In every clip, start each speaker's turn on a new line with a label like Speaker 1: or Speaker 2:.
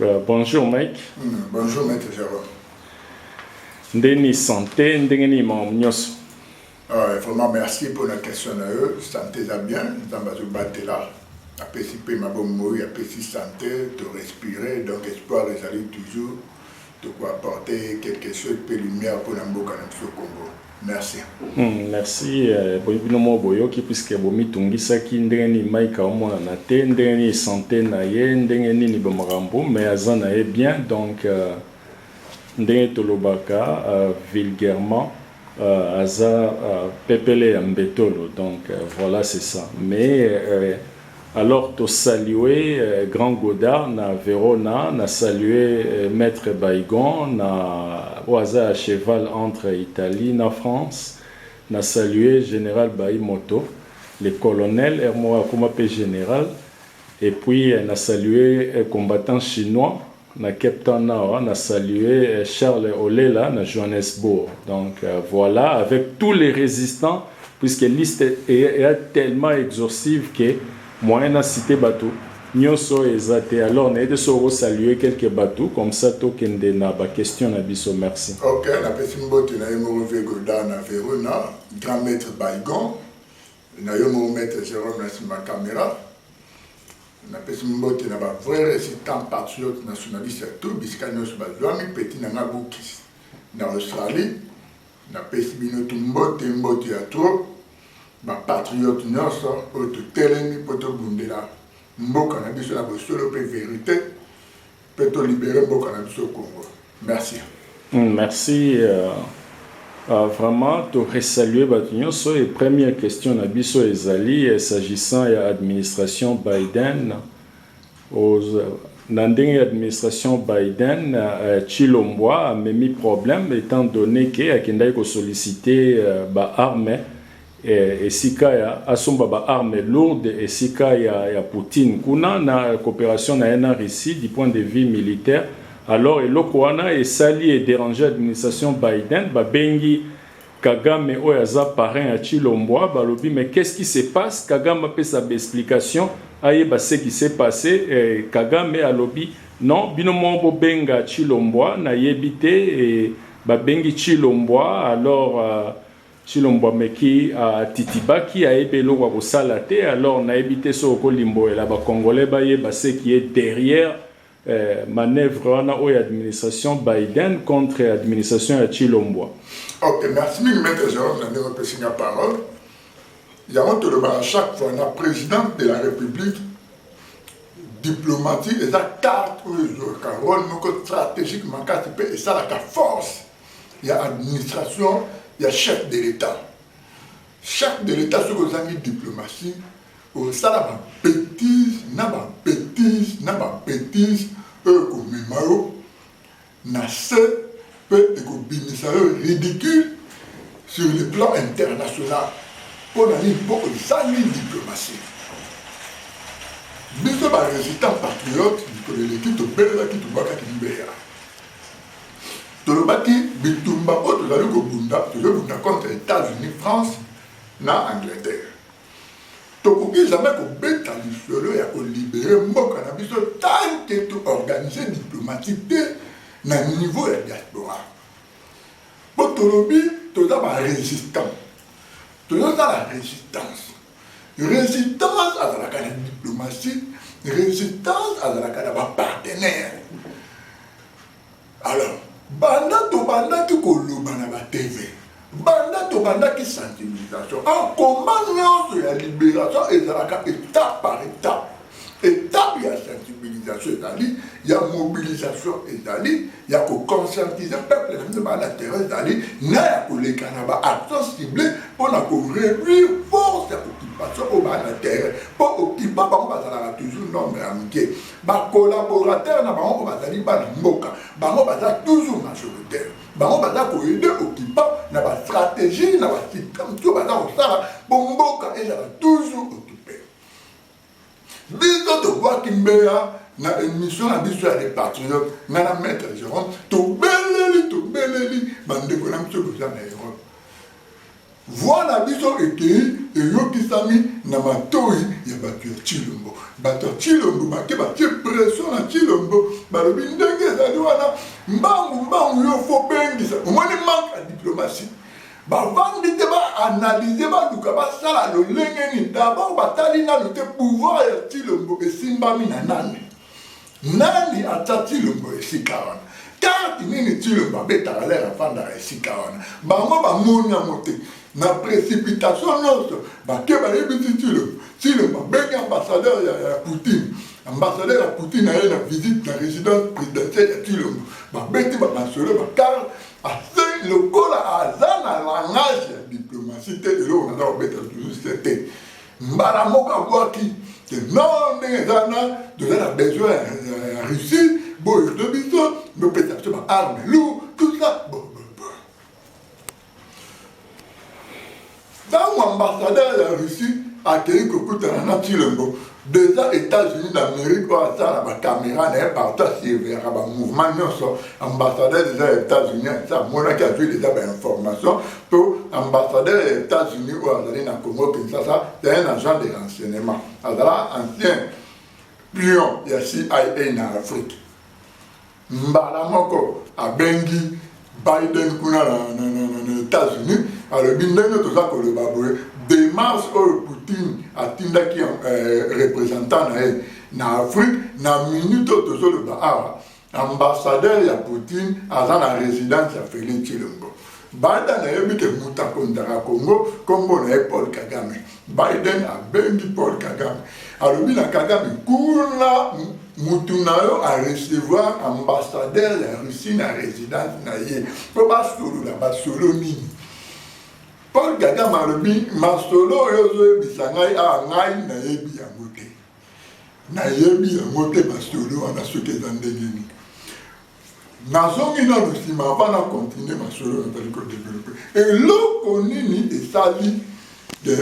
Speaker 1: Euh, bonjour Mike. Mm, bonjour Maître
Speaker 2: Java.
Speaker 1: Ndeni santé, ndenge nini makambo nyonso? Euh,
Speaker 2: vraiment merci mpo na question na yo. Santé eza bien, nzambe azobatela apesi mpe mabomoi, apesi santé, to respire, donc espoir ezali toujours Toko apporter quelque chose pe lumière pona mboka na biso Congo. Merci. Hum merci
Speaker 1: boye bino moko boyoki puisque bomitungisaki ndenge nini Mike aomonana te ndenge nini sante na ye ndenge nini bamakambo mais aza na ye bien donc ndenge tolobaka vulgairement Euh, aza euh, pepele ya mbetolo donc euh, voilà c'est ça mais euh, alors to saluer euh, grand godard na verona na saluer euh, maître baigon na oyo aza ya cheval entre italie na france na saluer général baimoto le colonel hermoa akoma mpe général Et puis na salue combattant chinois na cape town awa na salue Charles Olela na Johannesbourg donc voila avec tout les resistant puisque liste ea tellement exhaussive que moyen na cite batu nioso eza te alors na yete soki oko salue quelques batu comme ça to kende na ba question na biso merci. Ok na pesi
Speaker 2: mbote na ye moko Vieux Godard na Verona grand maitre Baygon. Na yo moko maitre Jerome na sima camera. Na pesi mbote na ba vrai resistant patriote nationaliste ya tout bisika nionso ba zuami petit na nga Gukis na Australie na pesi bino tout mbote mbote ya trop ba patriote nionso oyo to telemi po to bundela mboka na biso na bosolo pe verite Pe to libere mboka na biso Congo. Merci. Hum,
Speaker 1: merci. Euh, euh, vraiment, to resaluer bato nyonso. Et première question na biso ezali eh, s'agissant ya administration Biden. Aux, na ndenge ya administration Biden, euh, Chilombwa amemi problème étant donné que akendaki ko solliciter euh, ba armes eh, esika ya asomba ba armes lourdes esika ya, ya Poutine kuna na cooperation na ye na Russie du point de vue militaire alors eloko wana esali e déranger administration Biden babengi Kagame oyo aza parrain ya Chilombwa balobi mais qu'est-ce qui se passe Kagame apesa ba explication ayeba ce qui s'est passé eh, Kagame alobi non bino moko bobenga Chilombwa nayebi te eh, babengi Chilombwa alors euh, Tshilombo ameki a titibaki ayebi eloko ya kosala te alors nayebi te soki oko limboela ba congolais bayeba ce qui est derrière manoeuvre wana oyo ya administration Biden contre administration ya Tshilombwa. Ok merci
Speaker 2: mingi maitre Jerome na ndenge opesi nga parole yango tolobaka chaque fois na president de la republique diplomatie eza carte oyo ezwaka role moko strategique makasi mpe esalaka force ya administration ya chef de l'etat chef de l'etat soki ozangi diplomatie osala babetise na babetise na babetise oyo ekomema yo na se mpe ekobimisa yo ridicule sur le plan international mpo na nini mpo ozangi diplomatie biso barésistant patriote mikolo eleki tobelelaki tobwakaki mbeya Tolobaki bitumba oyo tozali kobunda, tozobunda contre Etats-Unis, France na Angleterre. Tokoki jamais kobeta lisolo ya kolibere mboka na biso tant que to organiser diplomatie te na niveau ya diaspora. Mpo tolobi toza ba resistants, tozosala resistance. Resistance azalaka na diplomatie, resistance azalaka na ba partenaires. Alors banda tobandaki koloba na ba TV, banda tobandaki sensibilisation, en combat nyonso ya liberation ezalaka etape par etape. Etape ya sensibilisation ezali, ya mobilisation ezali, ya ko conscientiser peuple na biso ba na terrain ezali, na ya koleka na ba actions ciblées mpo na ko réduire force ya occupation oyo ba na terrain, mpo occupant bango bazalaka toujours nombre ya mike. ba collaborateurs na bango bazali bana mboka bango baza toujours majoritaire bango baza koyede occupant na bastratégie na basystème to baza kosala mpo mboka ezala toujours occupe biso tobwaki mbeya na émission na biso ya les patriotes nga na maître jérôme tobeleli tobeleli bandeko na biso boza na europe Voix na biso ekeyi eyokisami na matoyi ya bato ya Tshilombo. Bato ya Tshilombo bake batie pression na Tshilombo, balobi ndenge ezali wana mbangu mbangu yo fo bengisa. Omoni manque ya diplomatie. Bavandi te ba analyser baluka basala lolenge nini. D'abord batali nanu te pouvoir ya Tshilombo esimbami na nani. Nani atia Tshilombo esika wana? Carte nini Tshilombo abetaka lere afandaka esika wana? Bango bamoni yango te. Na precipitation nyonso bake bayebisi Tshilombo. Tshilombo abengi ambassadeur ya, ya Poutine. Ambassadeur ya Poutine aye na visite na residence présidentielle ya Tshilombo. Babeti bamasolo bakara ase lokola aza na langage ya diplomatie te eloko naza kobeta toujours te mbala moko abwaki te non ndenge eza wana toza na besoin ya russie boyo to biso bopesa biso ba arme lour tout ça ntango ambassadeur ya russie akei kokutana na tilembo deja états-unis d'amérique oyo asala bacaméra na ye partout asurveillaka bamouvement nyonso ambassadeur deja ya états-unis amonaki azwi deja bainformation to ambassadeur ya Etats-Unis oyo azali na Congo Kinshasa ya un agent de renseignement azala ancien pion ya CIA na Afrique mbala moko abengi Biden kuna na, na, na, na, na Etats-Unis alobi ndenge toza koloba boye demarche oyo Poutine atindaki eh, représentant na ye na Afrique na minute oyo tozoloba awa Ambassadeur ya Poutine aza na residence ya Felix Tshilombo. Biden ayebi ke moto akonzaka Congo nkombo na ye Paul Kagame. Biden abengi Paul Kagame, alobi na Kagame, kuna motu na yo arecevoir ambassadeur ya Russie na residence na ye mpo basolola basolo nini Paul Kagame alobi masolo oyo ozoyebisa ngai awa ngai nayebi yango te Nayebi yango te masolo wana soki eza ndenge nini. Nazongi nano nsima avant na continue masolo nazali kodevelope. Eloko nini esali de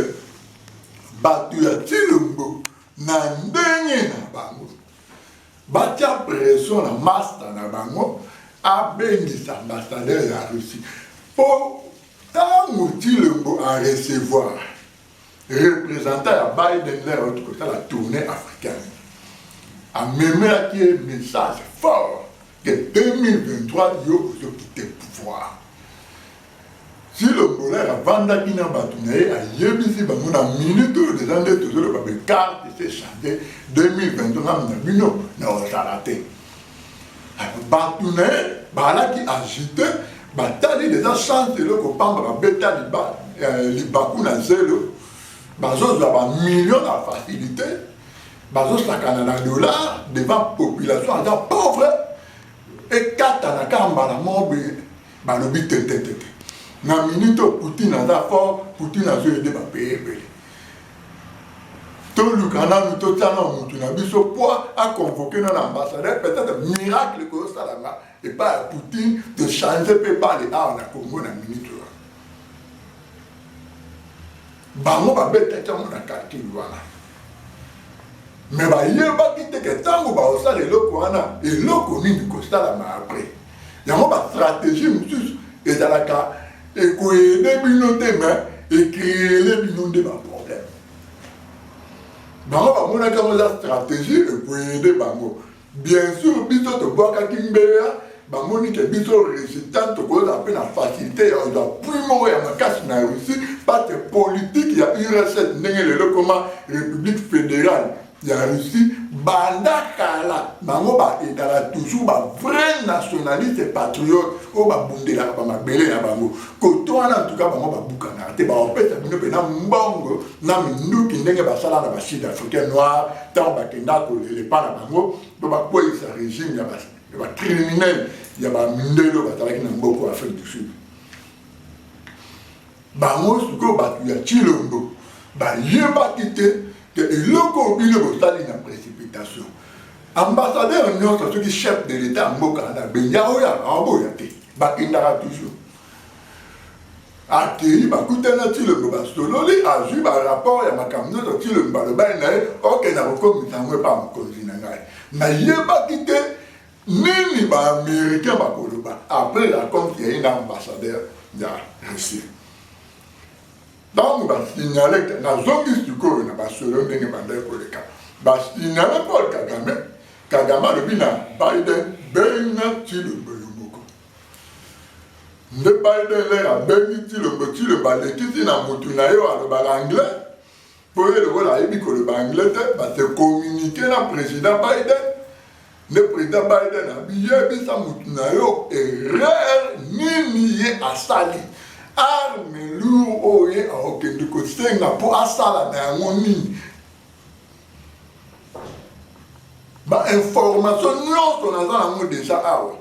Speaker 2: bato ya Tshilombo na ndenge na bango batya pression na masta na bango abengisa ambassadeur ya Russie mpo ntango Tshilombo arecevoir representant ya biden lere oyo tokotala tourne africaine amemelaki ye message fort ke 2023 yo ozokite pouvoir silombolere avandaki na bato na ye ayebisi bango na minute oyo deja nde tozoloba bekarte se change 2023 na bino na ozala te batu na ye baalaki agite batali deja chance eloko pamba babeta eh, libaku na zelo bazozwa bamillion na facilité bazosakana na dollar devant population aza pauvre ekatana kaka mbala moko boye balobi tetetete na minute oyo poutine aza fort poutine azoyede bapaye ebele toluka nanu totyana motu na biso mpo aconvoke na na ambassadeur peut-être miracle ekoyosalanga epai ya poutine de change mpe bale awa na congo na minute wana bango babetaki yango na calcul wana me bayebaki te ke ntango baosala eloko wana eloko nini kosalama apres yango ba stratégie mosusu ezalaka ekoyede bino te me ekreele bino nde baproblème bango bamonaki yango eza stratégie ekoyede bango bien sûr biso tobwakaki mbeya bamoni ke biso résultat tokozala mpe na facilité ya ozwa pui moko ya makasi na russie parce que politike ya urss ndenge lelo ekoma république fédérale ya Russie banda kala bango ba ezala toujours ba vrai nationaliste patriote oyo babundelaka ba mabele na bango kote wana antuka bango babukanaka te baopesa bino mpena mbongo na minduki ndenge basala na basud africain noir ntango bakenda kolelepa na bango mpo bakweyisa regime ya bacriminel ya bamindele oyo bazalaki na mboko afrique du sud Bango sikoyo bato ya Tshilombo bayebaki te ke eloko oyo bino bosali na precipitation ambassadeur nyonso soki chef de l'etat ya mboka na benja oya aoboya te bakendaka toujours akei bakutani na tilombo basololi azwi barapport ya makambo nyonso tilombo balobani na ye okenda kokomisa yango epa mokonzi na ngai nayebaki te Nini ba americains bakoloba après la compte ya ye na ambassadeur ya Russie? ntango basignale nazongi sikoyo na basolo ndenge bandaki koleka basignale paul kagame kagame alobi na biden benga cilombo yo moko nde biden lere abengi cilombo cilombo alekisi na motu na yo alobaka anglais Po ye lokola ayebi koloba anglais te, ba se communiquer na president Biden, nde president Biden abi yebisa mutu na yo erreur nini ye asali, arme lourd oyo ye akokende kosenga po asala na yango nini. Ba information nionso naza nango deja awa.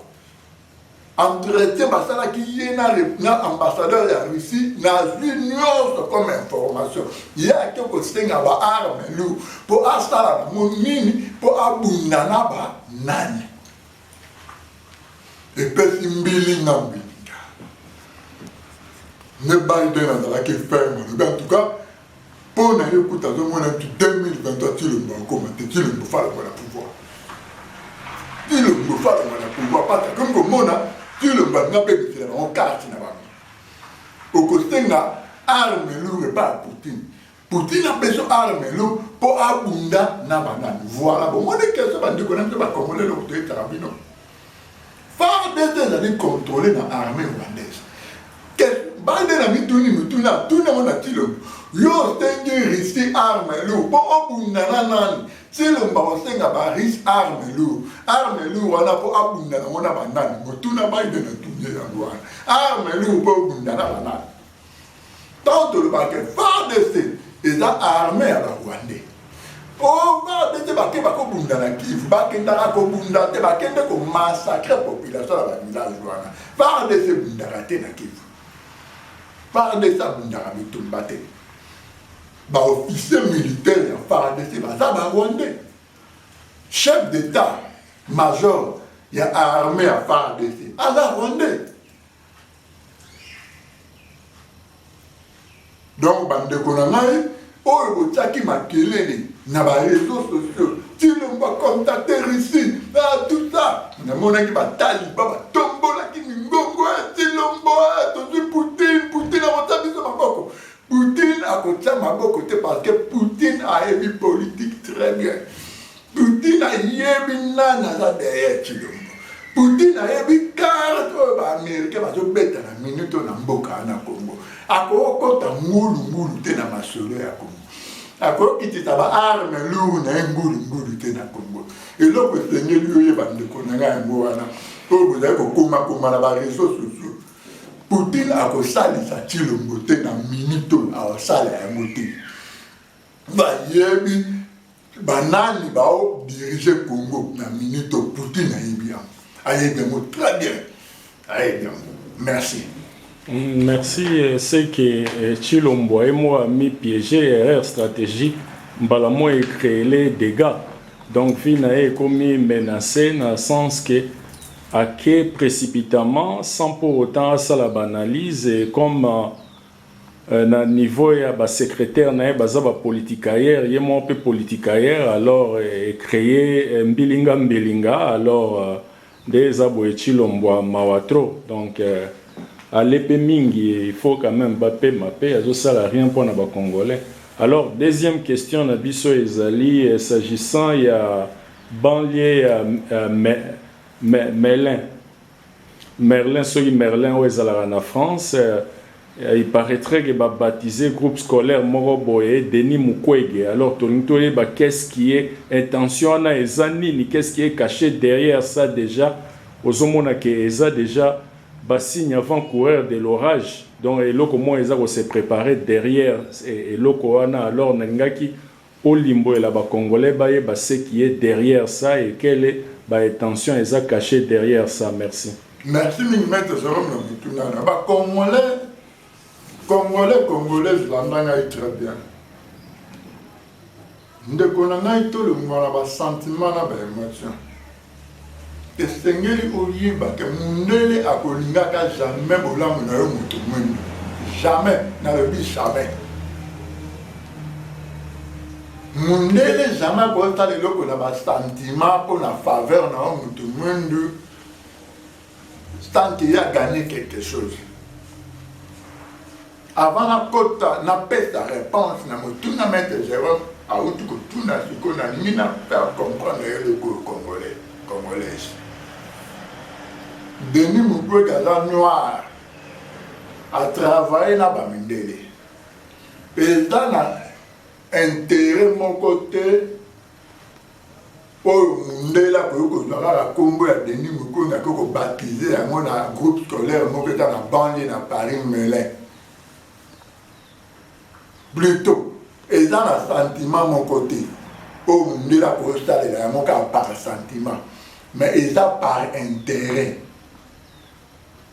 Speaker 2: entretien basalaki ye na, na ambassadeur ya russie nazwi nyonso comme information ye ake kosenga baarme lour mpo asala nango nini mpo abunda na banani epesi mbili na mbilinga ne biden azalaki ferme alobi en tout cas Po na yo kutu azo mona depuis 2023 Tshilombo akoma te Tshilombo falongo na pouvoir Tshilombo falongo na pouvoir pata comme komona Tshilombo alinga pe bisela bango carte na bango okosenga arme lourde pa Poutine Poutine a besoin arme lourde po abunda na banani voilà bomoni question bandeko na biso bakongole eloko toyetaka bino Fardc ezali controler na armee rwandaise. Bande na mituni mituna tuna ngo na Tshilombo yo osengi Russie arme lourd mpo obunda na nani? Tshilombo akosenga ba Russe arme lourd arme lourd wana mpo abunda nango na banani? Motuna Biden atuni yango wana arme lourd mpo obunda na banani? Tant de le baquet, FARDC eza armée ya ba Rwandais. Oh, FARDC bake bakobunda na Kivu, bakendaka kobunda te, bakende ko massacrer population ya ba village wana. FARDC ebundaka te na Kivu. FARDC abundaka bitumba te. Ba officiers militaires ya FARDC baza ba Rwandais. Chef d'État major ya armée ya FARDC aza Rwandais. donc bandeko na ngai oyo botyaki makelele na bareseau sociaux tilombo bakontate russie ah, tout ça namonaki bataliba batombolaki mingongo ya eh, tilombo ah, tozwi poutine poutine akotya biso maboko poutine akotya maboko te parce que poutine ayebi politique très bien Poutine ayebi nani aza derrière Tshilombo. Poutine ayebi carte oyo ba américain bazobeta na minute oyo na mboka wana Congo. Akokota ngulu ngulu te na masolo ya Congo. akokitisa ba arme lour na ye ngulungulu te na congo eloko esengeli yo ye bandeko na ngai yango wana oyo bozali kokomakoma na bareseau sociaux poutine akosalisa cilombo te na minito aosala yango te bayebi Banani bao diriger Congo na minute oyo Poutine ayebi yango. Ayebi yango très bien. Ayebi yango. Merci. Mm,
Speaker 1: merci, euh, c'est que euh, Chilombo et moi mis piégé erreur stratégique. Mbala moi créé les dégâts. Donc Vina est commis menacé dans le sens que à qui précipitamment sans pour autant à ça l'analyse comme euh, na niveau ya ba secretaires na ye baza ba politicailleurs ye moko pe politicailleur alors e creer mbilinga mbilinga alors nde eza boye Tshilombwa mawa trop donc alepe mingi il faut quand meme ba pema pe azo sala rien pona ba congolais alors deuxième question na biso ezali s'agissant ya banlieu ya Mellen Merlin soki Merlin oyo ezalaka na France il paraitrait que ba baptise groupe scolaire moko boye Denis Mukwege alors tolingi toyeba qu'est ce qui est intention wana eza nini qu'est ce qui est cache derrière ça dejà ozomona que eza dejà ba signe avant coureur de l'orage donc eloko moko eza ko se preparer derrière eloko wana alors nalingaki Olimboela ba congolais bayeba ce qui est derriere ça et quelle ba etention eza cache derriere ça merci. Merci mingi
Speaker 2: maitre Jerome na motuna na ba congolais congolais congolaise landa ngai très bien ndeko na ngai tolongwa na ba sentiment na ba emotion Esengeli oyeba ke mundele akolingaka jamais bolamu na yo moto mwindu. Jamais, nalobi jamais. Mundele jamais akoki kosala eloko na ba sentiment mpo na faveur na yo moto mwindu. tant que ya gagner quelque chose avant nakota napesa réponse na motuna maître jérôme awuti kotuna sikoyo nalingi na faire comprendre ye lokoyo congolais congolaise denis mukwege aza noir atravaille na bamindele eza na intérêt moko te oyo mundele akoki kozwa kaka nkombo ya denis mukonda akoki kobatize yango na groupe scolaire moko eza na banlie na paris melin plutot eza na sentiment moko te oyo mundele akosalela yango kaka par sentiment mais eza par interet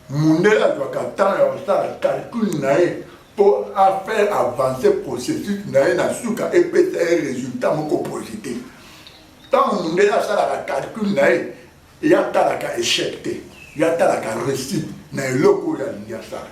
Speaker 2: Mundele azwaka temps ya kosala calcul na ye mpo a faire avancer processus na ye na suka epesa ye resultat moko posite. Tango mundele asalaka calcul na ye, ye atalaka echec te, ye atalaka reussite na eloko oyo alingi asala.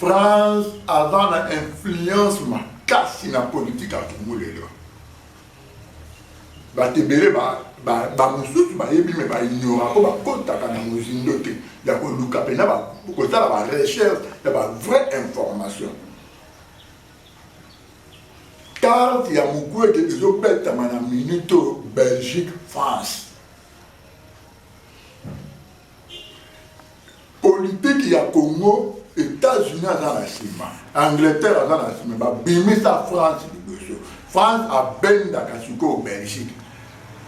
Speaker 2: France aza na influence makasi na politique ya Congo lelo. Bato ebele bamosusu bayebi me baignora mpo bakotaka na mozindo te ya koluka mpena kosala ba recherche ya ba vraie information carte ya mokwete ezobetama na minute oyo belgique france Politique ya Congo, Etats-Unis aza na nsima, Angleterre aza na nsima, babimisa France liboso. France abendaka sikoyo Belgique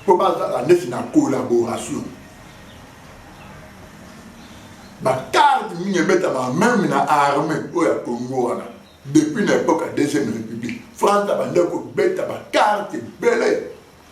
Speaker 2: mpo bazala ndeti na collaboration. Bakarte mingi ebetama meme na armée oyo ya Congo wana depuis na epoque ya deuxième république france abandaki kobeta bakarte ebele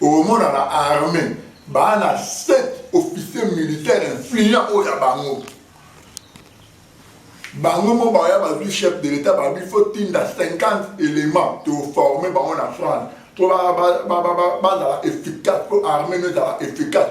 Speaker 2: Okomona na armee baa na 7 officiers militaires influents oyo ya bango bango mo baya bazwi chef de l'etat babi fo tinda 50 éléments toforme bango na france mpo bazala efficace mpo armée no ezala efficace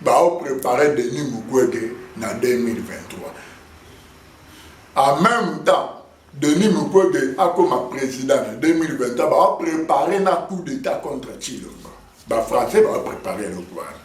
Speaker 2: Bao preparer Denis Mukwege na 2023. En meme temps, Denis Mukwege akoma president na 2023, bao preparer na coup d'etat contre Tshilombo. Ba français bao preparer eloko wana.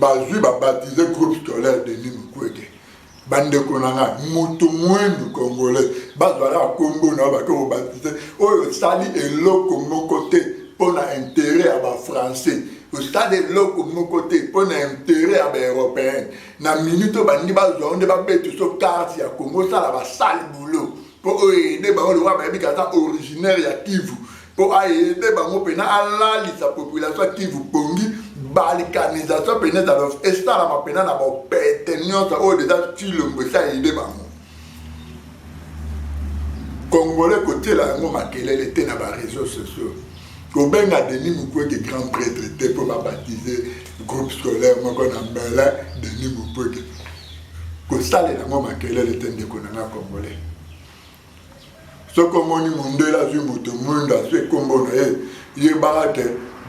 Speaker 2: bazwi babatize groupe scolaire denis mukwege bandeko na ngai moto mwendu congolais bazwala nkombo na yo bake kobatize oyo osali eloko moko te mpo na intere ya bafrançais osali eloko moko te mpo na intere ya baeuropéen na minute oyo balingi bazwa yo nde babeti so karte ya kongo osala basali boulot mpo oyo ede bango lokola bayebi kaza originaire ya kivu mpo aede bango mpena alalisa population ya kivu pongi balkanisation mpena ezala esalama mpena na bopete nyonso oyo deja cilombo esi aede bango congolais kotiela yango makelele te na bareseau sociaux kobenga denis mukwege grand prêtre te mpo babatize groupe scolaire moko na mbele denis mukwege kosalela yango makelele te ndeko na nga congolais soki omoni mondele azwi moto mwindo azwi ekombo na ye yebaka te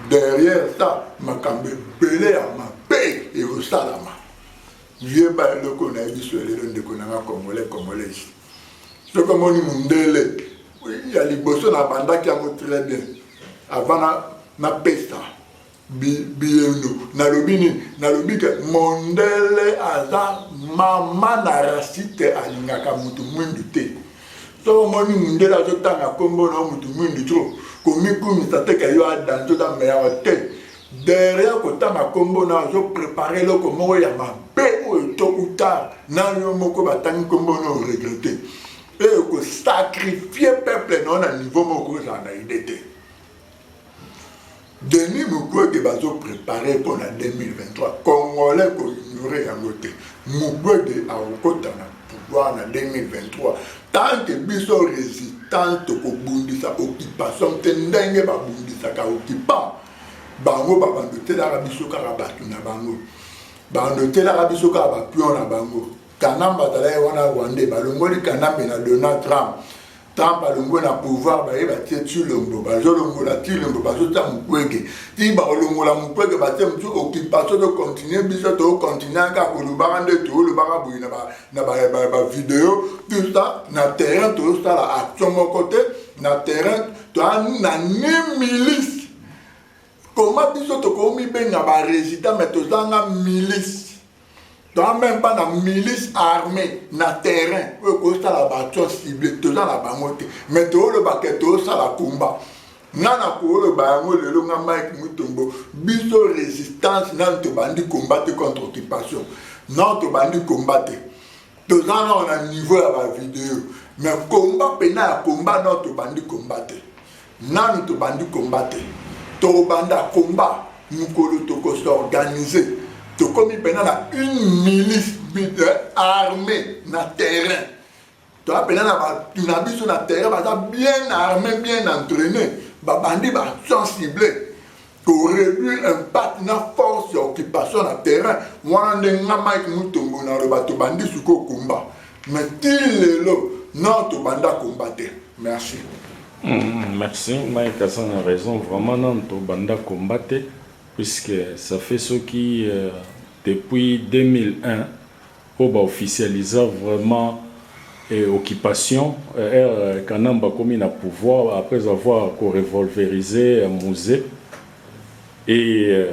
Speaker 2: derrière ça makambo ebele ya mabe ekosalama yeba eloko nayebi so lelo ndeko na nga congolais congolaise soki omoni mondele ya liboso na bandaki yango très bien avant napesa Bi, biendo, nalobi nini? Nalobi ke mondele aza mama na rasite alingaka mutu mwindu te. Soko omoni mundele azotanga kombo na mutu mwindu tro, komikumisa te ke yo adanzo za meyawa te. Derrière kotanga kombo na azo prepare eloko moko ya mabe oyo to ou tard na yo moko batangi kombo na oregrete. Oyo kosakrifie peuple na yo na niveau moko okozala na ide te. Denis Mukwege bazo prepare mpo na 2023 congolais ko ignore yango te. Mukwege akokota na pouvoir na 2023 tant que biso resistance tokobundisa occupation te ndenge babundisaka occupant bango babando telaka biso kaka bato na bango bando telaka biso kaka bapion na bango kanambe azalaki wana rwandais balongoli kanambe na donald trump tant balongwe na pouvoir baye batie tshilombo bazolongola tshilombo bazotia mukwege ti bakolongola mukwege batie motu occupation tocontinue biso tocontinue kaka kolobaka nde tolobaka boye na bavideo tuta na terrain tozosala action moko te na terrain toa na ni milice koma biso tokomibenga baresident me tozanga milice toza meme pas na milice armée na terrain oyo ekosala baaction cible toza na bango te mais toolobake toosala combat nga na kooloba yango lelo nga mike mutombo biso résistance nano tobandi combat te contre occupation nano tobandi combat te toza nao na niveau ya bavideo mais combat mpena ya combat nao tobandi combat te Nanu tobandi combat te tokobanda combat mukolo toko s'organiser tokomi pena na une milice euh, armée na terrain toza pena na batu na biso na terrain baza bien armé bien entraîné babandi ba sans cible ko reduire impact na force ya occupation na terrain wana nde nga mike mutombo naloba tobandi sikoyo komba mais ti lelo non tobanda komba te merci mm,
Speaker 1: merci mike aza na raison vraiment nano tobanda komba te puisque ça fait soki euh, depuis 2001 Oyo ba officialisa vraiment occupation heure kanambe akomi na pouvoir après avoir ko revolveriser musee et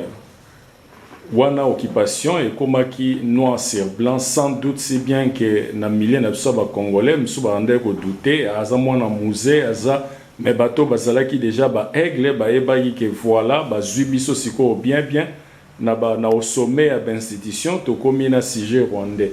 Speaker 1: wana occupation ekomaki noir sur blanc sans doute si bien que na milieu na biso ya ba congolais misusu babandaki ko douter aza mwana musee aza mais bato oyo bazalaki dejà ba aigles bayebaki que voila bazui biso sikoyo bien bien Na ba na au sommet ya b'institutions tokomi na sujet rwandais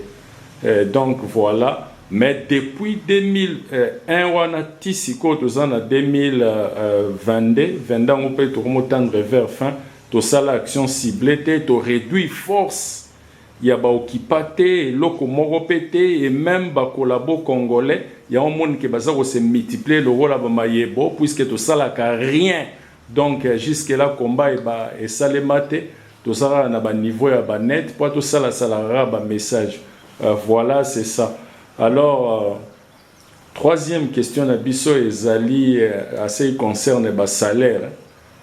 Speaker 1: eh donc voila mais depuis 2001 wana ti sikoyo toza na 2022 22 yango pe tokomo tendre vers fin tosala action ciblee te to reduire force ya ba occupa te eloko moko pe te et meme ba collabo congolais yango omoni ke baza ko se multiplier lokola ba mayebo puisque tosalaka rien Donc jusque là combat eba esalema te toza kaka na ba niveau ya ba net po to sala sala kaka ba message voilà c'est ça alors troisième question na biso ezali à ce qui concerne ba salaire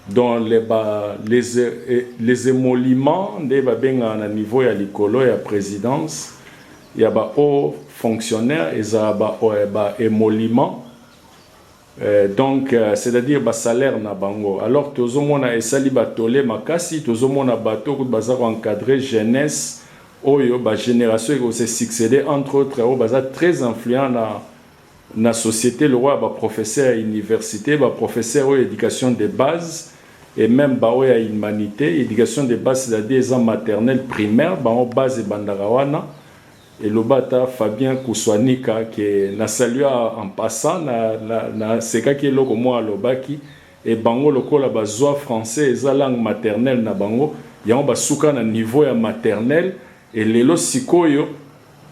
Speaker 1: dans les ba les les émoluments nde ba benga na niveau ya likolo ya presidence ya ba hauts fonctionnaires eza ba ba émoluments Eeh donc c'est à dire ba salaire na bango alors tozo mona esali ba tolle makasi tozo mona bato kutu baza ko encadrer jeunesse oyo ba generation eko se succeder entre autres oyo baza très influent na na societe lokola ba professeurs ya universite ba professeurs oyo ya education de base et meme ba oyo ya humanite education de base c'est à dire eza maternelle primaire bango base ebandaka wana Eloba ata Fabien Kusuanika que na salua en passant, na sekaki eloko moko alobaki et bango lokola ba zua français eza langue maternelle na bango yango ba suka na niveau ya maternelle et lelo sikoyo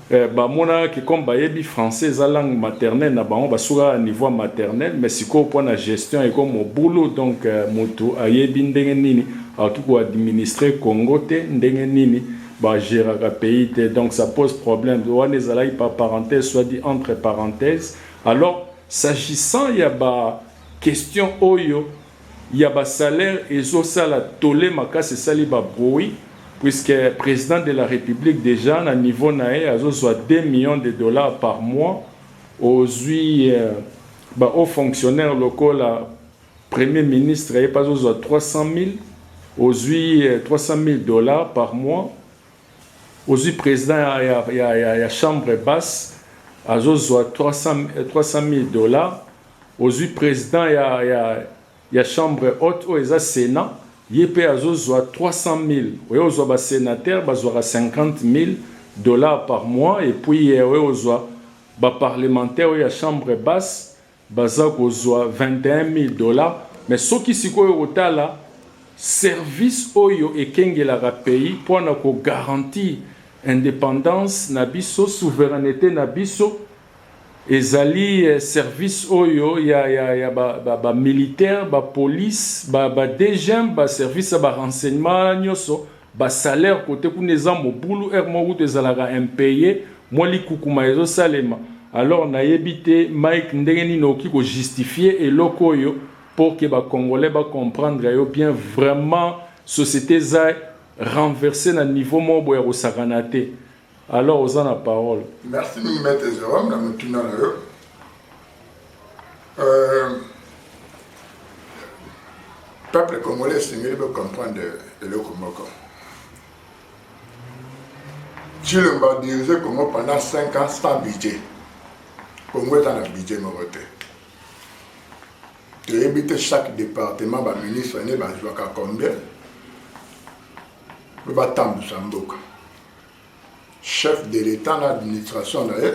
Speaker 1: ba monaka que comme ba yebi français eza langue maternelle na bango ba sukaka na niveau ya maternelle mais sikoyo po na gestion eko mobulu donc mutu ayebi ndenge nini akoki ko administrer Congo te ndenge nini Ba geraka pays te donc ça pose problème wana ezalaki par parenthèse soit dit entre parenthèse alors s'agissant ya ba question oyo ya ba salaire ezosala tole makasi esali ba bruit puisque président de la république déjà na niveau na ye azozwa 2 millions de dollars par mois ozwi euh, ba haut fonctionnaire lokola Premier ministre ye pe azo zwa 300.000 ozwi 300.000 dollars par mois ozwi president ya, ya, ya, ya, ya chambre basse azo zwa 300.000 300 dollars ozwi president ya, ya, ya chambre haute oyo eza senat ye pe azo zwa 300.000 oye ozwa ba senateur bazwaka 50.000 dollars par mois epuis oye ozwa ba parlementaire oyo ya chambre basse Baza kozua 21000 dollars mais soki sikoyo okotala service oyo ekengelaka pays po na ko garantir independance na biso, souverainete na biso ezali service oyo ya ba militaires, ba polices, ba DGM, ba services ya ba renseignements nioso Ba salaires cote kuna eza mobulu heure moko kutu ezalaka impaye mwa likukuma ezo salema alors na yebi te Mike ndenge nini okoki ko justifier eloko oyo pour que ba congolais ba comprendre yo bien vraiment societe eza renverser na niveau moko boye ya kosakana te. Alors oza na parole. Merci mingi maître
Speaker 2: Jérôme na motuna na yo. Euh, peuple congolais esengeli bo comprendre eloko moko. Tshilombo a dirigé Congo pendant 5 ans sans budget. Congo est un budget moko te. toyebi te chaque département baministre nde bazwaka combien mpe batambwisa mboka chef de l'etat na administration na ye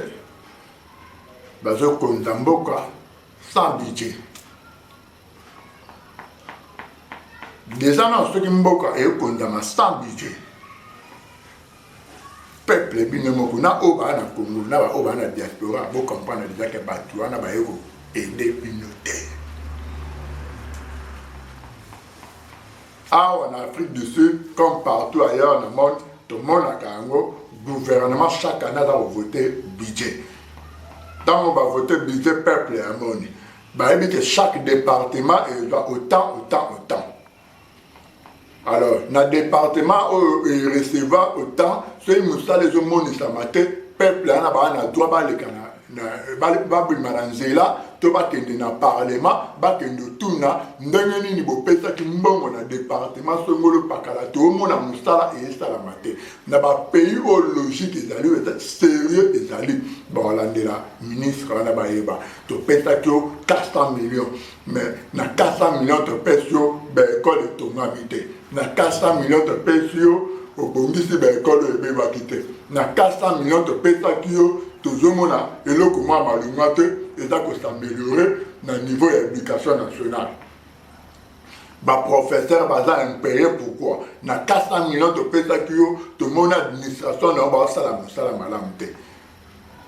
Speaker 2: bazokonza mboka sans budget deja na soki mboka ekonzama sans budget peuple bino moko na oyo baa na congo na baoyo baa na diaspora bocomprendre deja ke bato wana baye koede bino te awa na afrique du sud comme partout ailleurs na monde tomonaka yango gouvernement chaque année aza kovote budget ntango bavote budget peuple amoni bayebi ke chaque département ezwa autant autant autant alors na département oyo ereceva autant soki mosala ezomonisama te peuple wana baa na droit baleka na babima na nzela to bakende na parlema bakende otuna ndenge nini bopesaki mbongo na departema songolo pakala toomona mosala esalama te na bapays oyo logique ezali oyo serieux ezali baolandela ministre wana bayeba topesaki yo 400 millions mais na 400 millions topesi yo baekole etongami te na 400 millions topesi yo obongisi baekole oyo ebebaki te na 400 millions topesaki yo tozomona eloko mwa malonga te eza kosameliore na niveau ya éducation nationale baprofesseur baza impeye pourquoi na 400 millions topesaki yo tomoni administration na yo baosala mosala malamu te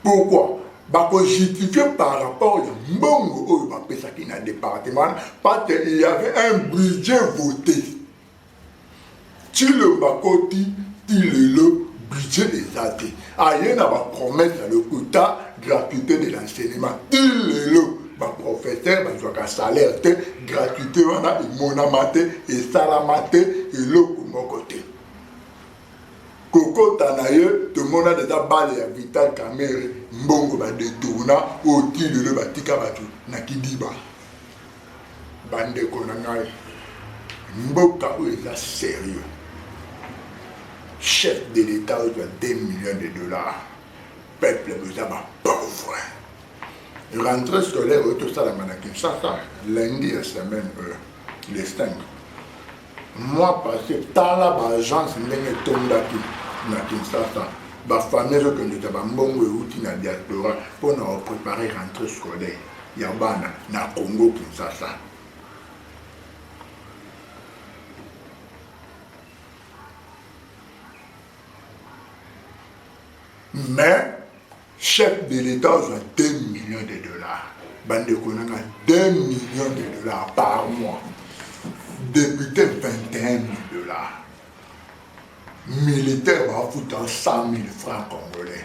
Speaker 2: Pourquoi? bako justifie par rapport ya mbongo oyo bapesaki na département wana parce que il y avait un budget voté cilomba koti ti lelo budget eza te aye na bapromesse ya lokuta gratuité de l'enseignement ti lelo baprofesseur bazwaka salaire te gratuité wana emonama te esalama te eloko moko te kokota na ye tomona deja bale ya vital kamere mbongo badetourna oyo ti lelo batika bato na kidiba bandeko na ngai mboka oyo eza serieux chef de l'etat oyo ya 2 millions de dollars peuple boza bapauvre rentre scolaire oyo tosalama na kinshasa lundi ya semaine oyo le 5 mois passé tala baagence ndenge etondaki na kinshasa bafamille ezokendeka bambongo euti na diaspora mpo na koprepare rentrée scolaire ya bana na congo kinshasa mais chef de l'etat azwa 2 millions de dollars bandeko na nga 2 millions de dollars par mois député 21 mille dollars militaire bafuta 100 mille francs congolais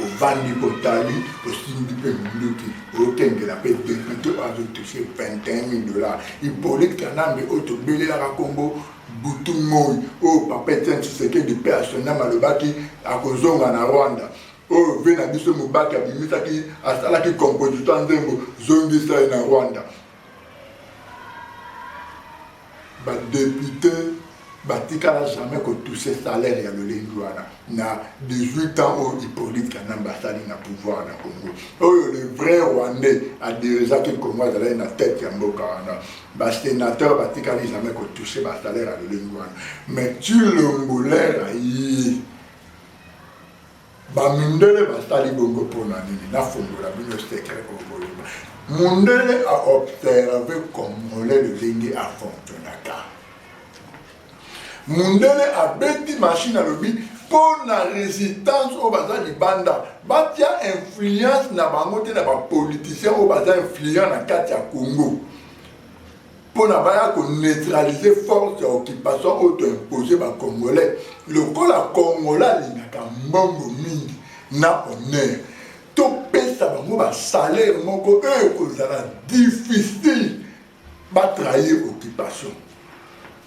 Speaker 2: ovandi kotali osimbi mpe minduki okengela mpe depute oyo azotuse 21 mille dollars ipolite kanambe oyo tobelelaka nkombo Butu moyi oyo papa Etienne Tshisekedi paix à son ame alobaki akozonga na Rwanda oyo vie na biso Mubake abimisaki asalaki composition ya nzembo zongisa ye na Rwanda ba depute batikala jamais kotouche salaire ya lolenge wana na 18 ans oyo hippolite kanambe asali na pouvoir na congo oyo le vrai rwandais adirigeaki congo azalaki na tete ya mboka wana Ba senateurs batikali jamais ko toucher ba salaires ya lolenge wana mais Tshilombo l'air aye bamindele basali bongo mpona nini nafongola bino secret okolima mundele aobserve congolais lolenge afonctionnaka Mundele abeti machine alobi mpo na resistance oyo baza libanda batia influence na bango te na bapoliticien oyo baza influent na kati ya congo mpo na baya koneutralize force ya occupation oyo toimpose bacongolais lokola congolais alingaka mbongo mingi na honneur topesa bango basalaire moko oyo ekozala difficile ba trahir occupation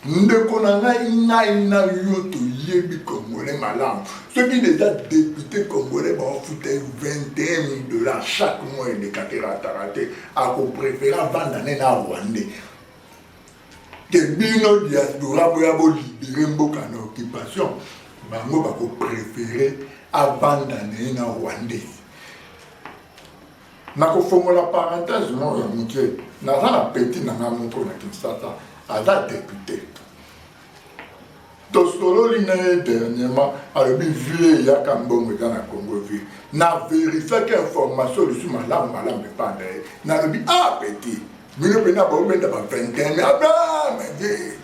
Speaker 2: ndeko na ngai ngai na yo toyebi congolais malamu soki deja depute congolais baofuta ye 21000 dollar chaque mois eleka te rataka te akoprefere avanda ne na rwandais ke bino diaspora boya bolibere mboka na occupation bango bakoprefere avanda na ye na rwandais nakofongola parenthèse moko ya moke naza na petit na ngai moko na kinshasa aza depute tosololi na ye dernièrement alobi vie eyaka mbongo eza na congo vie na verifiaki information lisusu malamu malamu epai na ye nalobi a ah, petit bino mpena baobenda ba 21 abamede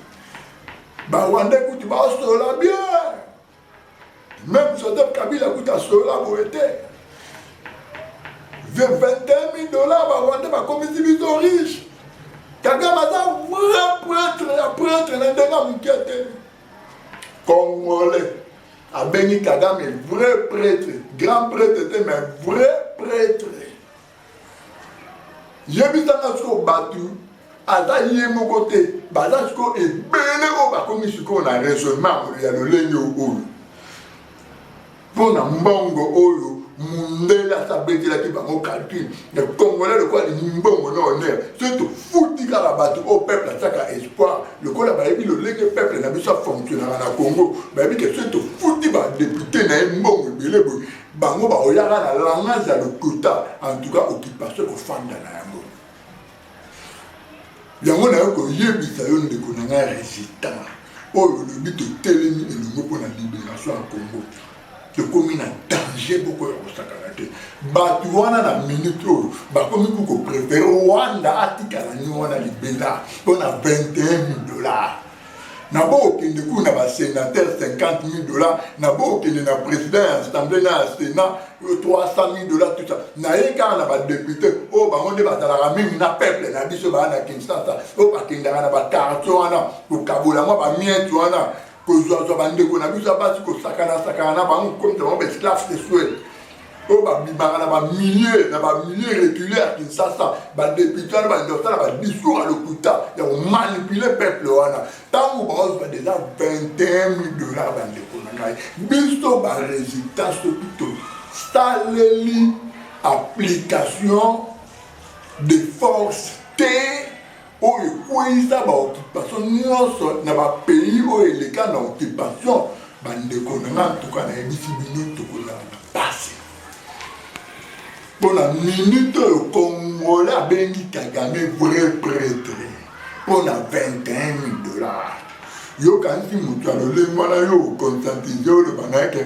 Speaker 2: bawanda kutu basolola bien Même Joseph Kabila kuta solola boye te. 21 000 dollars ba Rwanda bakomisi biso riche. Kagame aza vrai prêtre ya prêtre na ndenge ya moke te. Congolais abengi Kagame vrai prêtre, grand prêtre te mais vrai prêtre. yebisa nga sikoyo bato aza ye moko te baza sikoyo ebele oyo bakomi sikoyo na raisonnement ya lolenge oyo mpo na mbongo oyo mundele asabetelaki bango calcul ya congolais lokola alingi mbongo na honere soki tofuti kaka bato oyo peuple atiaka espoir lokola bayebi lolenge peuple na biso afonctionnaka na congo bayebi ke soki tofuti badepute na ye mbongo ebele boye bango bakoyaka na langage ya lokuta en tout cas occupation ekofanda na yango yango nayo koyebisa yo ndeko na ngai résistant oyo olobi totelemi elongo mpo na libération ya congo tokomi na danger boko ya kosakana te bato wana na minute oyo bakomi ko koprefere rwanda atikala ni wana libela mpo na 21 000 dollars na bokende kuna na basenateur 50 000 dollars na bokende na président ya assemblée na ya sénat 300 000 dollars tout ça naye kaka na badepute oyo oh, bango nde bazalaka mingi na peuple na biso baa na kinshasa oyo oh, bakendaka na bakartier wana kokabola mwa bamiete wana kozwazwa bandeko na biso ya basi kosakanasakana na bango komisa bango baesclave sexuel oyo babimaka na bamilie na bamilie recule ya kinshasa badepute wana banda kosala badiscours ya lokuta ya komanipule peuple wana ntango baozwa deja 21 mille dollar bandeko na ngai biso baresultat soki tosaleli application de force te oyo ekweyisa ba occupation nyonso na ba pays oyo eleka na occupation bandeko na nga ntuka nayebisi bino tokozala na pasi mpo na minute oyo kongole abengi kagame vrai pretre mpo na 21 dollars yokanisi moto ya lolenge wana yo conscientise oloba na yeke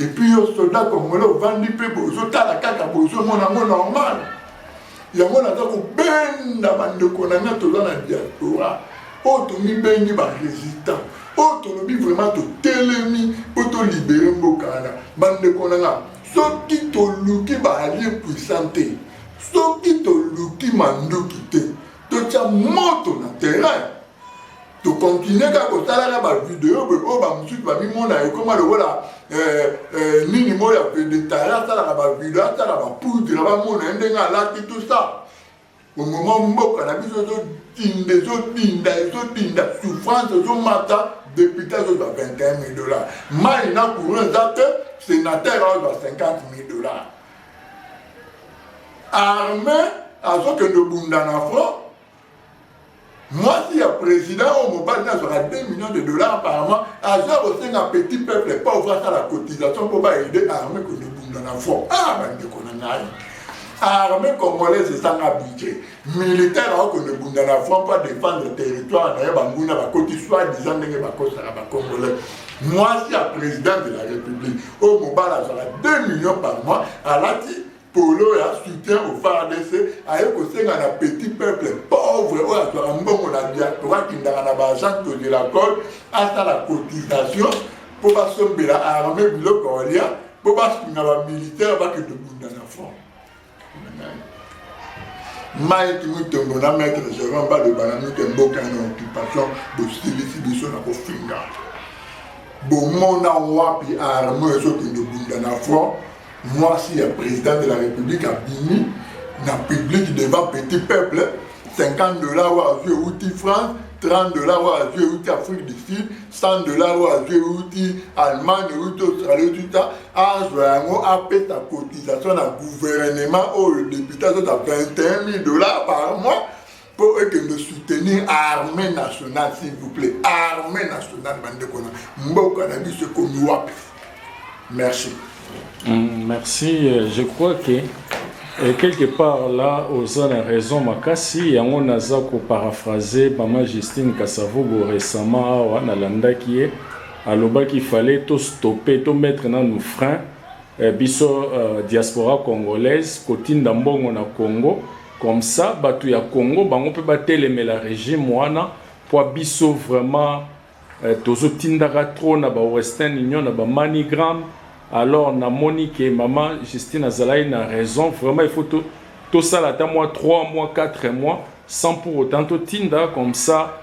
Speaker 2: Et puis yo soda congolais ovandi mpe bozotala kaka bozomona yango normal yango naza kobenda bandeko na ngai toza na diaspora oyo oh, tomibengi barésistant oyo oh, tolobi vraiment totelemi mpo tolibere mboka wana bandeko na ngai soki toluki baalie puissant te soki toluki manduki te totya moto na terrain tokontinue kaka kotalaka bavideo boye oyo bamosusu bamimona ekoma lokola eh, eh, nini moyo ya vedetari asalaka bavideo asala bapoudre bamona ye ndenge alati tout ça omoma mboka na biso ezodinda ezodinda ezodinda souffrance ezomata depute azozwa 21 000 dollars mai na courant eza te sénateur azozwa 50 000 dollars armée azokende obunda na front mwasi ya président oyo mobali na azwaka 2 millions de dollars par mois aza kosenga petit peuple pauvre asala cotisation mpo baede arme komibunda na front ah bandeko na ngai arme congolaise ezanga budget militaire akokende bunda na front mpo adefendre territoire na ye banguna bakoti soit disant ndenge bakosaka bacongolais mwasi ya président de la république oyo mobali azwaka 2 millions par mois alati Tolo ya soutien au FARDC aye kosenga na petit peuple pauvre oyo azwaka mbongo na diaspora akendaka na ba agence de la code asala cotisation mpo basombela armée biloko olia mpo basunga bamilitaire bakende bunda na front mike mutombo na maître gerant baloba na mike mboka na occupation bosilisi biso na kofinga bomona wapi arme ezokende bunda na front Mwasi ya president de la republique abimi na public devant petit peuple 50 dollars oyo azwi euti france 30 dollars oyo azwi euti afrique du sud 100 dollars oyo azwi euti allemagne euti australie euti ta azwa yango apesa cotisation na gouvernement oyo depute azota 21 000 dollars par mois mpo ekende soutenir armée nationale s'il vous plaît armée nationale bandeko na mboka na biso ekomi wapi merci mm,
Speaker 1: merci euh, je crois que euh, quelque part là oza na raison makasi yango naza koparaphrase mama justine kasavubo récemment awa nalandaki ye alobaki fallait tostoppe tomettre nanu frein eh, biso euh, diaspora congolaise kotinda mbongo na congo Comme ça batu ya Congo bango pe batelemela regime wana pwa biso vraiment eh, tozo tindaka trop na ba Western Union na ba Manigram alors namoni ke mama Justine azalaki na raison vraiment il faut to tosala ata mwa 3 mois 4 mois sans pour autant totinda comme ça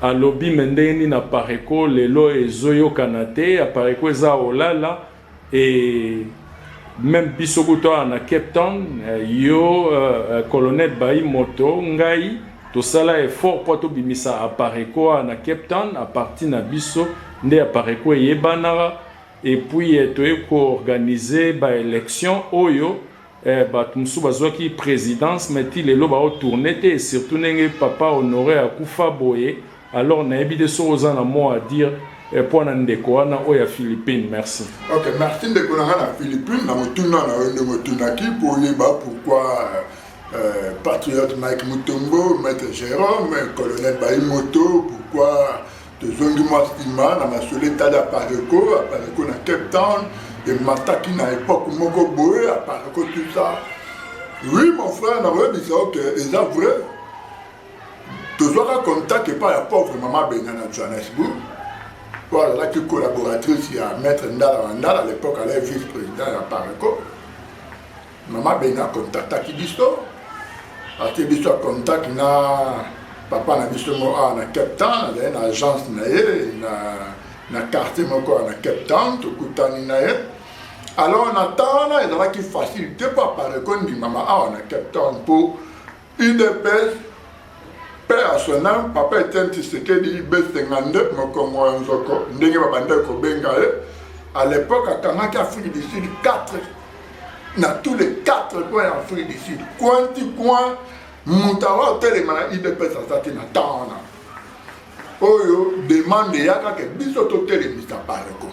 Speaker 1: Alobi mais ndenge nini apareco lelo ezo yokana te apareco eza olala et meme biso kutu awa na Cape Town euh, yo euh, euh, colonel Bayi Moto ngai tosala effort mpo tobimisa apareco awa na Cape Town a partir na biso nde apareco eyebanaka et puis toye koorganize baélection oyo Eh batu mosusu bazuaki presidence mais ti lelo bao tourner te surtout ndenge papa honore akufa boye alors nayebi te soki oza na mot à dire eh, po na ndeko wana oyo ya Philippines merci. Ok merci ndeko
Speaker 2: na nga na Philippines na motuna na yo ndenge otunaki po oyeba pourquoi euh, patriote Mike Mutombo, maître Jérôme, colonel Baimoto, pourquoi tozongi mwa nsima na masolo etali apareco apareco na cape town emataki na epoke moko boye apareco tusa oui mon frère nakoyebisa oke eza vrai tozwaka contact epai ya pauvre mama benga na johannesburg mpo azalaki collaboratrice ya maître ndala wa ndala à l'époque alai vice président ya apareco Mama Beni a contactaki biso ati biso a contact na papa na biso moko awa na Cape Town, azali na agence na ye na, na quartier moko awa na Cape Town, tokutani na ye alors na temps wana ezalaki facile te mpo apareko endimama awa na Cape Town mpo Udps, paix à son âme, papa Etienne Tshisekedi B52 mokongo ya nzoko ndenge babandaki kobenga ye à l'époque akangaki Afrique du Sud 4 na tous les 4 coins ya Afrique du Sud coin ti coin moto awa otelema na udps aza te na temps wana oyo demande eyaka ke biso totelemisa bareko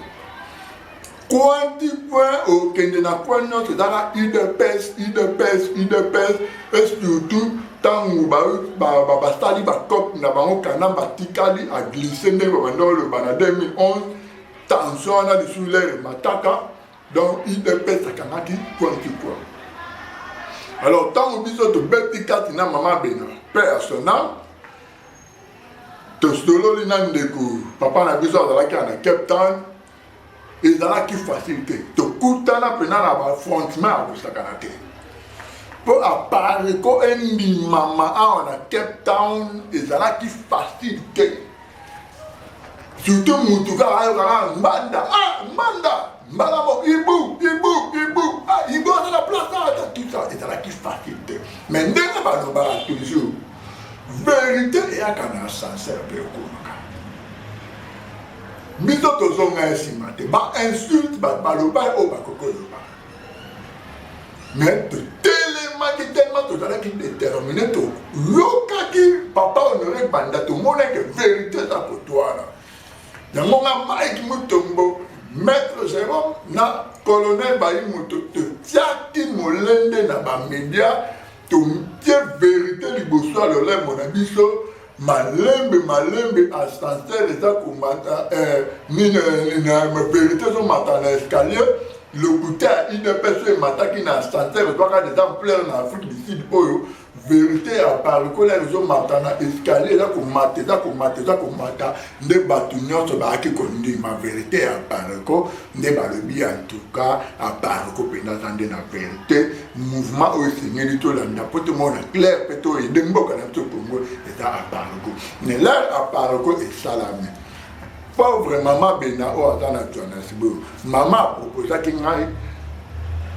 Speaker 2: Coin ti coin okende na coin nyonso ezaka udps udps udps et surtout ntango basali bacope na bango kanamba atikali aglise ndenge babanda oloba na 2011 tension wana lisusu lere mataka donc udps akangaki coin ti coin alors ntango biso tobeti kati na mama bena père ya son âme tosololi na ndeko papa na biso azalaki na cape town ezalaki facile te tokutana mpena na bafrontement ya kosakana te mpo apareko endimama awa na cape town ezalaki facile te surtout motu kaka ayokaka mbanda ah, mbanda mbala mo ibu ibu ibu ah, ibu aza na place awa ta tusa ezalaki facile te mais ndenge balobaka toujours verité eyaka na ascenseur mpe okoma biso tozonga ya nsima te bainsulte baloba oyo bakoki koloba me totelemaki telema tozalaki determine toyokaki papa honore banda tomonaki verité eza kotwala yango nga mike mutombo maître jérôme na colonel bayi moto totiaki molende na bamédia totie verité liboso ya lolemo na biso malembe malembe ascenseur eza komata eh, nini eh, na verite ezomata na escalier lokuta ya udps oyo emataki na ascenseur ezwaka des ampleur na afrique du sud oyo verite ya parikola ezomata na escalier eza komata eza komata eza komata nde bato nyonso bayaki kondima verite ya parco nde balobi ya ntuka aparco mpenza aza nde na verite mouvement oyo esengeli tolanda mpo tomona claire mpe toyede mboka na biso kongo eza aparco ne lere aparco esalami pauvre mama bena oyo aza na johannesburg mama aproposaki ngai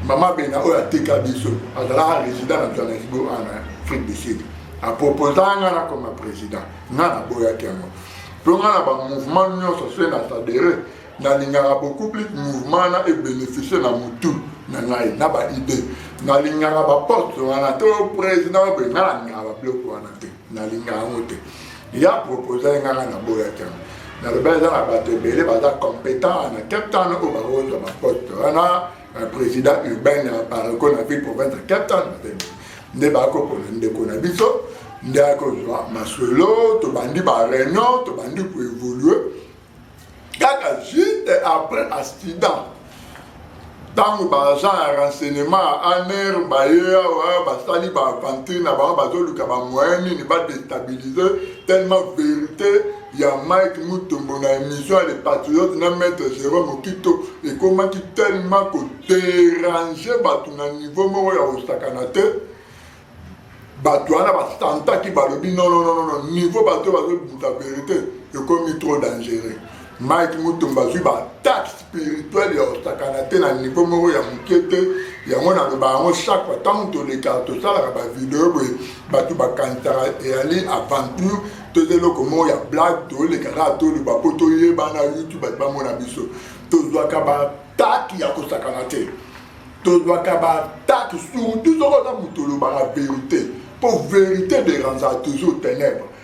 Speaker 2: mama bena oyo atika biso azalaka résident na johannesburg ana afrique du sud aproposa nga nakoma président nga naboyaki yango mpo nga na bamouvement nyonso se na sadere nalingaka beaucoup plus mouvement na ebénéficie na motu na ngai na baide nalingaka baposte wana to président oyo nga nalingaka babiloko wana te nalingaka yango te ya propose nganga naboyaki yango naloba eza na bato ebele baza compétent na cape town oyo bakozwa baposte wana na président urbain ya pareko na ville province ya cape town nde bakopona ndeko na biso nde akozwa masolo tobandi bareunion tobandi koévolue kaka juste après accident ntango baagent ya renseignement ya aner baye awa basali baaventure na bango bazoluka bamoyen nini badestabilise tellement vérité ya Mike Mutombo na emission ya Le Patriote na Maître Jérôme Okito ekomaki tellement ko déranger bato na niveau moko ya kosakana te bato wana basantaki balobi nononono niveau bato bazobuta verité ekomi trop dangereux Mike Mutombo azwi bataxe spirituel ya kosakana te na niveau moko ya moke te yango naloba yango chaque fois ntango tolekaka tosalaka bavideo boye bato bakanisaka eyali aventure toza eloko moko ya blague toleka kaka toloba mpo toyebana youtube bato bamona biso tozwaka bataki ya kosakana te tozwaka bataki surtout soki oza moto olobaka verité mpo verité derangea toujours ténèbre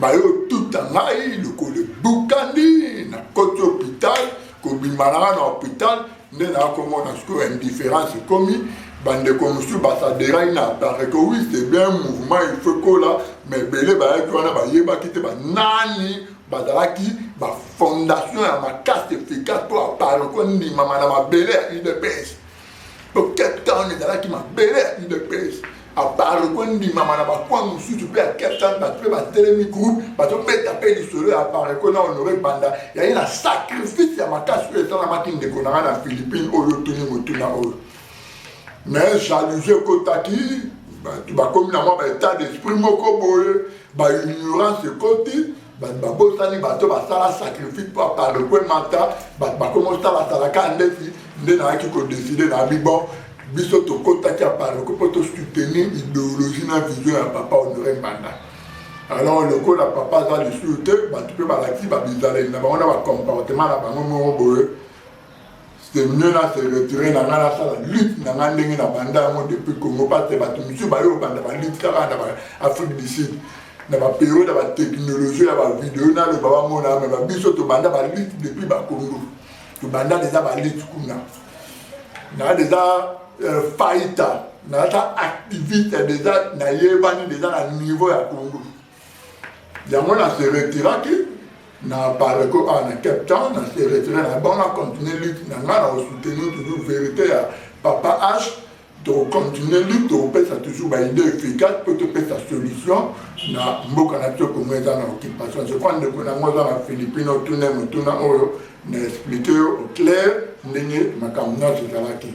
Speaker 2: bayotuta ngai lokolo ebukani nakoti hopital kobima nanga na hopital nde nakomona sikoyo indifference ekomi bandeko mosusu basaderai na apareko wi c'est bien mouvement il faut ekola ma ebele bayaki wana bayebaki te banani bazalaki bafondation ya makasi efficace mpo apareko endimama na mabele ya udps po cape town ezalaki mabele ya udps apart kondimama na bakwa mosusu mpe ya cape town bato mpe batelemi groupe bazobeta mpe lisolo ya apareko na honore banda yaye na sacrifice ya makasi oyo esalamaki ndeko na ngai na philippine oyo otuni motuna oyo mais jalousie ekotaki bato bakomi na mwa baetat d'esprit moko boye baignorance ekoti bato babosani bato basala sacrifice mpo apalo mpo emata bato bakoma osalasalaka ndefi nde nayaki kodeside na abi bon biso tokotaki apalo mpo tosoutenir ideologie na vision ya papa honore mbanda alors lokola papa aza lisusu te bato mpe balakisi babizaleli na bango na bacomportement na bango moko boye c'est mieux na se retirer na ngai nasala lutte na ngai ndenge na banda yango depuis congo parce que bato mosusu baye obanda balutte kaka na baafrique du sud na baperiode ya batechnologie ya bavideo naloba bamona me babiso tobanda balutte depuis bakongo tobanda deja balutte kuna na deja euh, faita naza activiste deja nayebani deja na niveau ya congo yango na se retiraki na pareko awa na cape town na se retire na bango na continue lutte na ngai na kosoutenir toujours vérité ya papa h tokocontinue lutte tokopesa toujours baide efficace mpo topesa solution na mboka na biso kongo eza na occupation je crois ndeko na yango oza na philippine otuna motuna oyo na explike yo au clair ndenge makambo nyonso ezalaki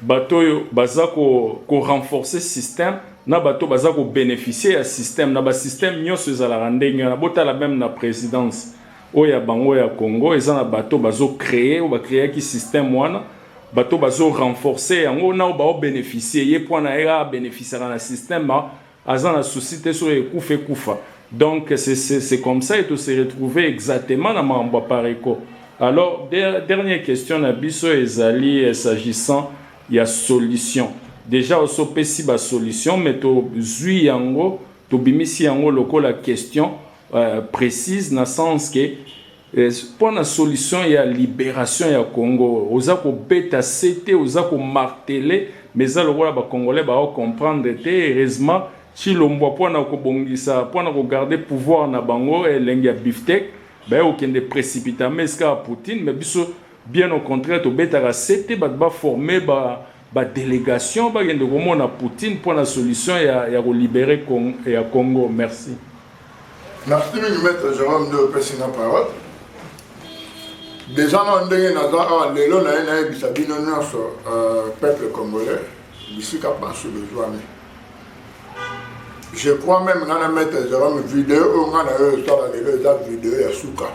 Speaker 1: Bato oyo baza ko renforcer système na bato oyo baza ko beneficier ya système, na ba systèmes nionso ezalaka ndenge wana. Botala meme na presidence oyo ya bango ya Congo, eza na bato oyo bazo creer, oyo ba creaki système wana, bato oyo bazo renforcer yango na oyo bao beneficier. Ye mpo na ye a beneficiaka na système. aza na souci te soki ekufa ekufa donc c'est comme ça et to se retrouver exactement na makambo ya Pareco alors dernière question na biso ezali eh, s'agissant ya solution déjà oso pesi ba solution mais to zui yango tobimisi yango lokola question euh, précise na sens que Pona solution ya liberation ya Congo oza ko beta sete oza ko marteler mais eza lokola ba congolais bao comprendre te heureusement Tshilombwa pona ko bongisa pona ko garder pouvoir na bango elengi ya biftek baye ko kende precipitament esika ya Poutine mais biso bien au contraire to betaka sete batu ba former ba Ba delegation bakende komona Poutine mpo na solution ya ya ko libere Cong ya Congo merci.
Speaker 2: Merci mingi maître Jerome nde opesi nga parole. Deja na ndenge naza awa lelo naye nayebisa bino nyonso euh, peuple congolais bisika banso bozwami. je crois même nga na maître jérôme video oyo nga na yo osala lelo eza video ya suka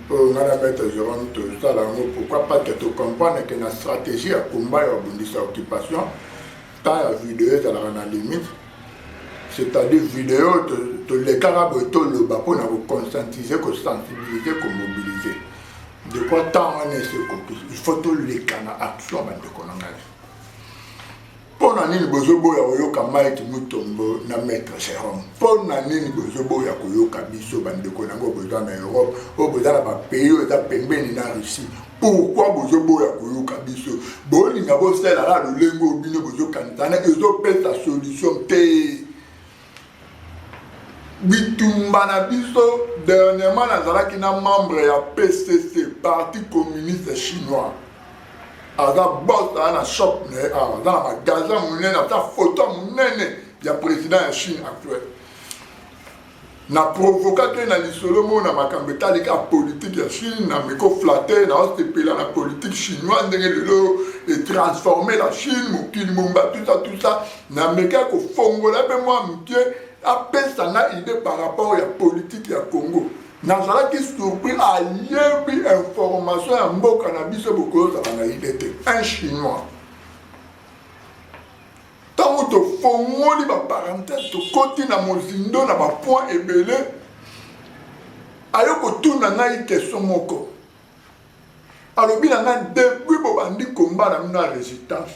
Speaker 2: oyo nga na maître jérôme tosala yango pourquoi pas te tocomprendre ke na stratégie ya combat ya kobundisa occupation temps ya video ezalaka na limite c'est-à-dire video tolekaka boye toloba mpo na koconscientiser kosensibilize komobilize de quoi temps wana esekoki il faut toleka na action bandeko na ngai mpo na nini bozoboya koyoka mike mutombo na maître jérome mpo na nini bozoboya koyoka biso bandeko na yango boza na europe oyo boza na bapays oyo eza pembeni na russie pourkui bozoboya koyoka biso bolinga bosalaka lolenge oyo bino bozokanisana ezopesa solution te bitumba na biso dernièrement nazalaki na membre ya pcc parti communiste chinois aza bos aza na shop na ye awa aza na magasin monene ata foto ya monene ya président ya chine actuel na provokaki ye na lisolo moko na makambo etali kaka politike ya chine na mikoflate na osepela na politike chinoise ndenge lelo etransforme la chine mokili mombatusa tusa Na meka ko fongola pe mwa muke a pesa nga idee par rapport ya politique ya Congo. Na zalaki surpris a yebi information ya mboka na biso bokoyo zala na idee te. Un chinois. Tango to fongoli ba parenthèse to koti na mozindo na ba point ebele ayo ko tuna ngai question moko. alobi na ngai depuis bobandi komba na bino ya resistance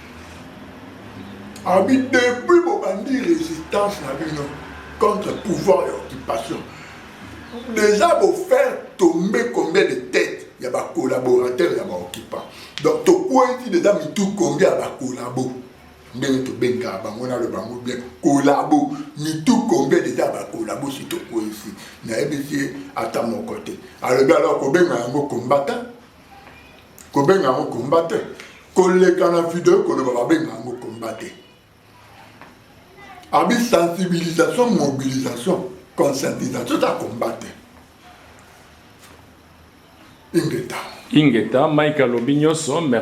Speaker 2: abi depuis bobandi résistance na bino contre pouvoir ya occupation déjà bofaire tombe combien de tête ya bacollaborateur ya baoccupant donc tokweti déjà mitu combien ya bacollabo ndenge tobengaka bango nalo bango bien collabo mitu combien déjà ya bacollabo si tokwesi nayebisi ye ata moko te alobi alors kobenga yango combattant kobenga yango komba te koleka na video koloba babenga yango komba te abi sensibilisation mobilisation conscientisation ta komba te
Speaker 1: ingeta
Speaker 2: ingeta
Speaker 1: mike alobi nyonso